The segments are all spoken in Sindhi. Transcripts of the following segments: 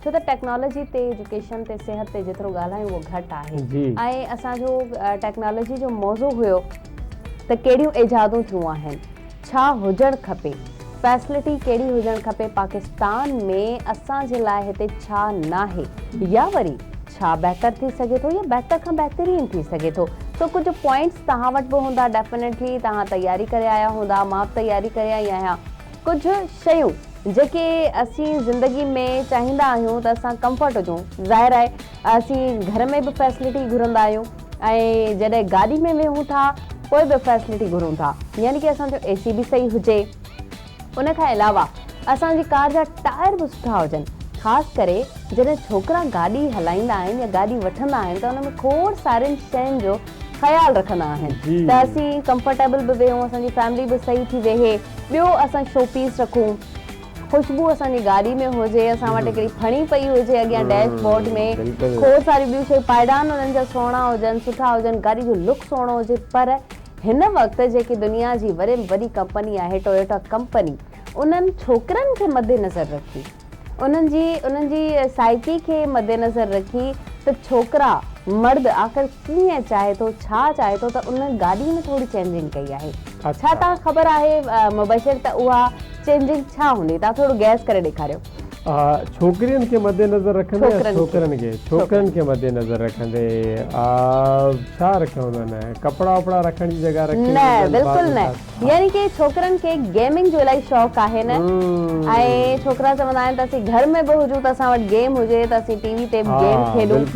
ڇو ته ٽيڪنالاجي تي ايجوڪيشن تي صحت تي جيترو ڳالهايون اهو گهٽ آهي ۽ اسان جو ٽيڪنالاجي جو موضوع هيو ته ڪهڙيون ايجادون ٿيون آهن ڇا هجڻ کپي فيسلٽي ڪهڙي هجڻ کپي پاڪستان ۾ اسان جي لاء هتي ڇا ناهي يا وري ڇا بهتر ٿي سگهي ٿو يا بهتر کان بهترين ٿي سگهي ٿو سو ڪجهه پوائنٽس توهان وٽ به هوندا ڊيفنيٽلي توهان تياري ڪري آيا هوندا مان به تياري ڪري آئي آهيان ڪجهه شيون جيڪي اسين زندگي ۾ چاهيندا آهيون ته اسان ڪمفرٽ هجون ظاهر آهي اسين گهر ۾ به فيسلٽي گهرندا آهيون ۽ جڏهن گاڏي ۾ ويهون ٿا پوء به فيسلٽي گهرون ٿا يعني ڪي اسان جو اي سي به صحيح هجي ان کان علاوه اسان جي ڪار جا ٽائر به سٺا هجن خاص ڪري جڏهن ڇوڪرا گاڏي هلائيندا آهن يا گاڏي وٺندا آهن ته ان ۾ کوڙ سارين شين جو خيال رکندا آهن ته اسين ڪمفرٽيبل به ويهون اسان جي فيملي به صحيح ٿي ويهي ٻيو اسان شو پيس رکون خوشبو اسان جي گاڏي ۾ هجي اسان وٽ هڪڙي ڦڻي پئي هجي اڳيان ڊيش بورڊ ۾ کوڙ ساريون ٻيون شيون پائيڊان انهن جا سهڻا هجن سٺا هجن گاڏي جو لڪ سهڻو هجي پر هن وقت جيڪي دنيا جي وڏي ۾ وڏي ڪمپني آهي ٽويوٽا ڪمپني انهن ڇوڪرن کي مدنظر رکي انهن جي انهن جي سائيڪي کي مدنظر رکي ته ڇوڪرا، مرد، آخر ڪيئن چاهي ٿو، ڇا چاهي ٿو ته ان گاڏي ۾ ٿوري چينجنگ ڪئي آهي. ڇا توهان کي خبر آهي مبشر ته اها چينجنگ ڇا هوندي؟ توهان ٿورو گيس ڪري ڏيکاريو. ڇوڪرين کي مدنظر رکندي يا ڇوڪرن کي؟ ڇوڪرن کي مدنظر رکندي ڇا رکيو هوندن؟ ڪپڙا وپڙا رکڻ جي جڳهه رکي هوندن. نه بلڪل نه. يعني ڪي ڇوڪرن کي گيمنگ جو الائي شوق آهي نه ۽ ڇوڪرا چوندا آهن ته اسين گهر ۾ به هجون ته اسان وٽ گيم هجي ته اسين ٽي وي تي به گيم کيڏون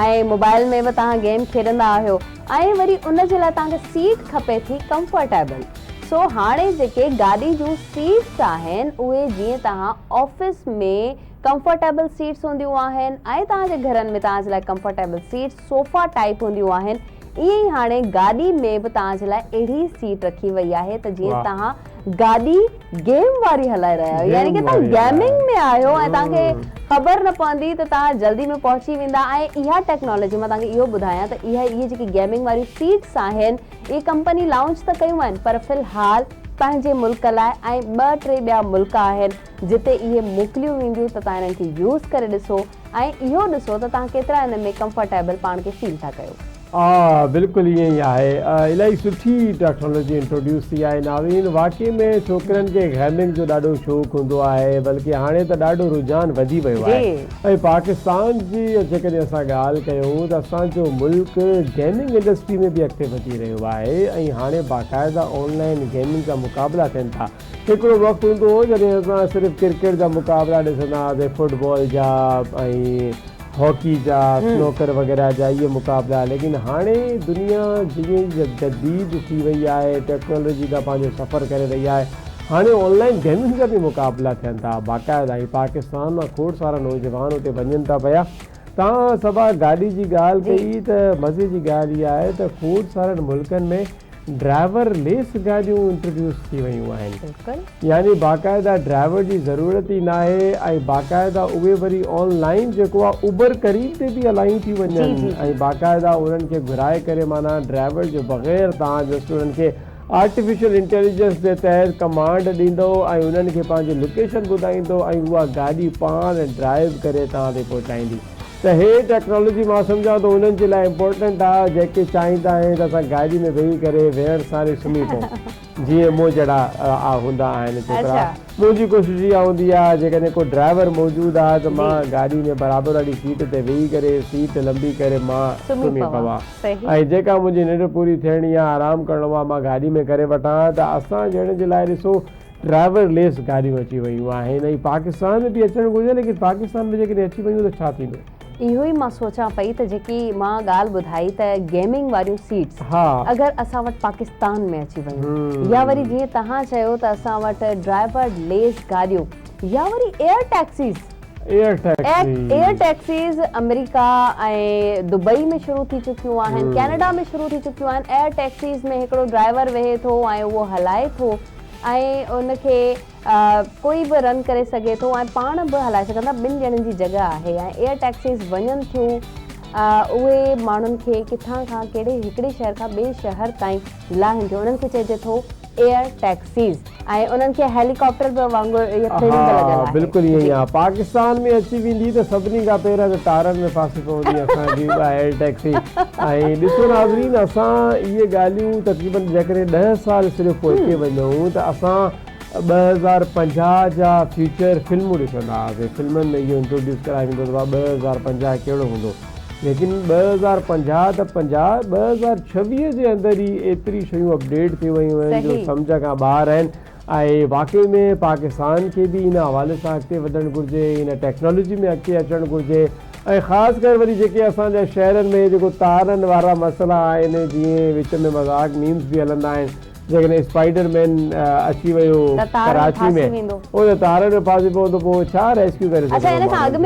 ۽ موبائل ۾ به توهان گيم کيڏندا آهيو ۽ وري ان جي لاء توهان کي سيٽ کپي ٿي ڪمفرٽيبل سو هاڻي جيڪي گاڏي جون سيٽس آهن اهي جيئن توهان آفيس ۾ ڪمفرٽيبل سيٽس هونديون آهن ۽ توهان جي گهرن ۾ توهان جي لاء ڪمفرٽيبل سيٽس صوفا ٽائيپ هونديون آهن ائين ئي هاڻي گاڏي ۾ به توهان جي لاء اهڙي سيٽ رکي وئي آهي ته جيئن توهان گاڏي گيم واري هلائي رهيا آهيو يعني ڪي توهان گيمنگ ۾ آهيو ۽ توهان کي خبر نه پوندي ته توهان جلدي ۾ پهچي ويندا ۽ اها ٽيڪنالاجي مان توهان کي اهو ٻڌايان ته اهي اهي جيڪي گيمنگ واريون سيٽس آهن اهي ڪمپني لانچ ته ڪيون آهن پر في الحال پنهنجي ملڪ لاء ۽ ٻه ٽي ٻيا ملڪ آهن جتي اهي موڪليون وينديون ته توهان انهن کي يوز ڪري ڏسو ۽ اهو ڏسو ته توهان ڪيترا ان ۾ ڪمفرٽيبل پاڻ کي فيل ٿا ڪيو. ها بلڪل ائين ئي آهي الائي سٺي ٽيڪنالاجي انٽروڊيوس ٿي آهي ناورين واقعي ۾ ڇوڪرين کي گيمنگ جو ڏاڍو شوق هوندو آهي بلڪه هاڻي ته ڏاڍو رجحان وڌي ويو آهي ۽ پاڪستان جي جيڪڏهن اسان ڳالهه ڪيون ته اسان جو ملڪ گيمنگ انڊسٽري ۾ به اڳتي وڌي رهيو آهي ۽ هاڻي باقاعده آن لائين گيمنگ جا مقابلا ٿين ٿا هڪڙو وقت هوندو هو جڏهن اسان صرف ڪرڪيٽ جا مقابلا ڏسندا هئاسين، فٽ بال جا ۽ هاڪي جا، سنوڪر وغيره جا اهي مقابلا ليڪن هاڻي دنيا جيئن ئي جديد ٿي وئي آهي، ٽيڪنالاجي ڏانهن پنهنجو سفر ڪري رهي آهي، هاڻي آن لائين گيمز جا به مقابلا ٿين ٿا باقاعده ۽ پاڪستان مان کوڙ سارا نوجوان اتي وڃن ٿا پيا. توهان صبا گاڏي جي ڳالهه ڪئي ته مزي جي ڳالهه اها آهي ته کوڙ سارن ملڪن ۾ ڊرائيور ليس گاڏيون انٽروڊيوس ٿي ويون آهن يعني باقاعده ڊرائيور جي ضرورت ئي ناهي ۽ باقاعده اهي وري آن لائين جيڪو آهي اوبر قريب تي به الائيون ٿي وڃن ۽ باقاعده انهن کي گهرائي ڪري معنيٰ ڊرائيور جي بغير توهان جسٽ انهن کي آرٽيفيشل انٽيليجنس جي تحت ڪمانڊ ڏيندو ۽ انهن کي پنهنجي لوڪيشن ٻڌائيندو ۽ اها گاڏي پاڻ ڊرائيو ڪري توهان تائين پهچائيندي ته هي ٽيڪنالاجي مان سمجهان ٿو انهن جي لاء امپورٽنٽ آ جيڪي چاهيندا آهن ته اسان گاڏي ۾ ويهي ڪري ويهڻ سان ئي سمهي پئون جيئن مون جهڙا آ هوندا آهن ڇوڪرا منهنجي ڪوشش اها هوندي آ جيڪڏهن ڪو ڊرائيور موجود آ ته مان گاڏي ۾ برابر واري سيٽ تي ويهي ڪري سيٽ لنبي ڪري مان سمهي پوان. صحيح. ۽ جيڪا منهنجي ننڊ پوري ٿيڻي يا آرام ڪرڻو اها مان گاڏي ۾ ڪري وٺان ها ته اسان جهڙن جي لاء ڏسو ڊرائيور ليس گاڏيون اچي ويون آهن ۽ پاڪستان ۾ به اچڻ گهرجن ليڪن پاڪستان ۾ جيڪڏهن اچي ويون ته ڇا ٿيندو؟ اهو ئي مان سوچان پئي ته جيڪي مان ڳالهه ٻڌائي ته گيمنگ واريون سيٽس ها. اگر اسان وٽ پاڪستان ۾ اچي ويون يا وري جيئن توهان چيو ته اسان وٽ ڊرائيور ليس گاڏيون يا وري ايئر ٽيڪسيز ايئر ٽيڪسيز آمريڪا ۽ دبئي ۾ شروع ٿي چڪيون آهن ڪينيڊا ۾ شروع ٿي چڪيون آهن ايئر ٽيڪسيز ۾ هڪڙو ڊرائيور ويهي ٿو ۽ اهو هلائي ٿو ۽ ان کي ڪوئي به رن ڪري سگهي ٿو ۽ پاڻ به هلائي سگهن ٿا ٻن ڄڻن جي جڳهه آهي ۽ ايئر ٽيڪسيز وڃن ٿيون اهي ماڻهن کي ڪٿان کان ڪهڙي هڪڙي شهر کان ٻئي شهر تائين لاهن ٿيون انهن کي چئجي ٿو ايئر ٽيڪسيز ۽ انهن کي هيلي ڪاپٽر به وانگر اهي پرنٽ ها لڳل آهي بلڪل ائين آهي پاڪستان ۾ اچي ويندي ته سڀني کان پهريان ته ٽائرن ۾ ڦاسي پوندي اسان جي اها ايئر ٽيڪسي ۽ ڏسو ناظرين اسان اهي ڳالهيون تقريبن جيڪڏهن ڏهه سال صرف پوئتي وڃون ته اسان ٻه هزار پنجاهه جا فيوچر فلمون ڏسندا هئاسين فلمن ۾ اهو انٽروڊيوس ڪرائي ويندو هو ته ڀا ٻه هزار پنجاهه ڪهڙو هوندو ليڪن ٻه هزار پنجاهه ته پنجاهه، ٻه هزار ڇويهه جي اندر ئي ايتري شيون اپڊيٽ ٿي ويون آهن جو سمجهه کان ٻاهر آهن ۽ واقعي ۾ پاڪستان کي به ان حوالي سان اڳتي وڌڻ گهرجي، ان ٽيڪنالاجي ۾ اڳتي اچڻ گهرجي ۽ خاص ڪر وري جيڪي اسان جا شهرن ۾ جيڪو تارن وارا مسئلا آهن جيئن وچ ۾ مذاق ميمز به هلندا آهن جيڪڏهن اسپائيڊر مين اچي ويو ڪراچي ۾ هو ته تارن ۾ ڦاسي پوندو پوء ڇا ريسڪيو ڪري سگهندو ماڻهن کي.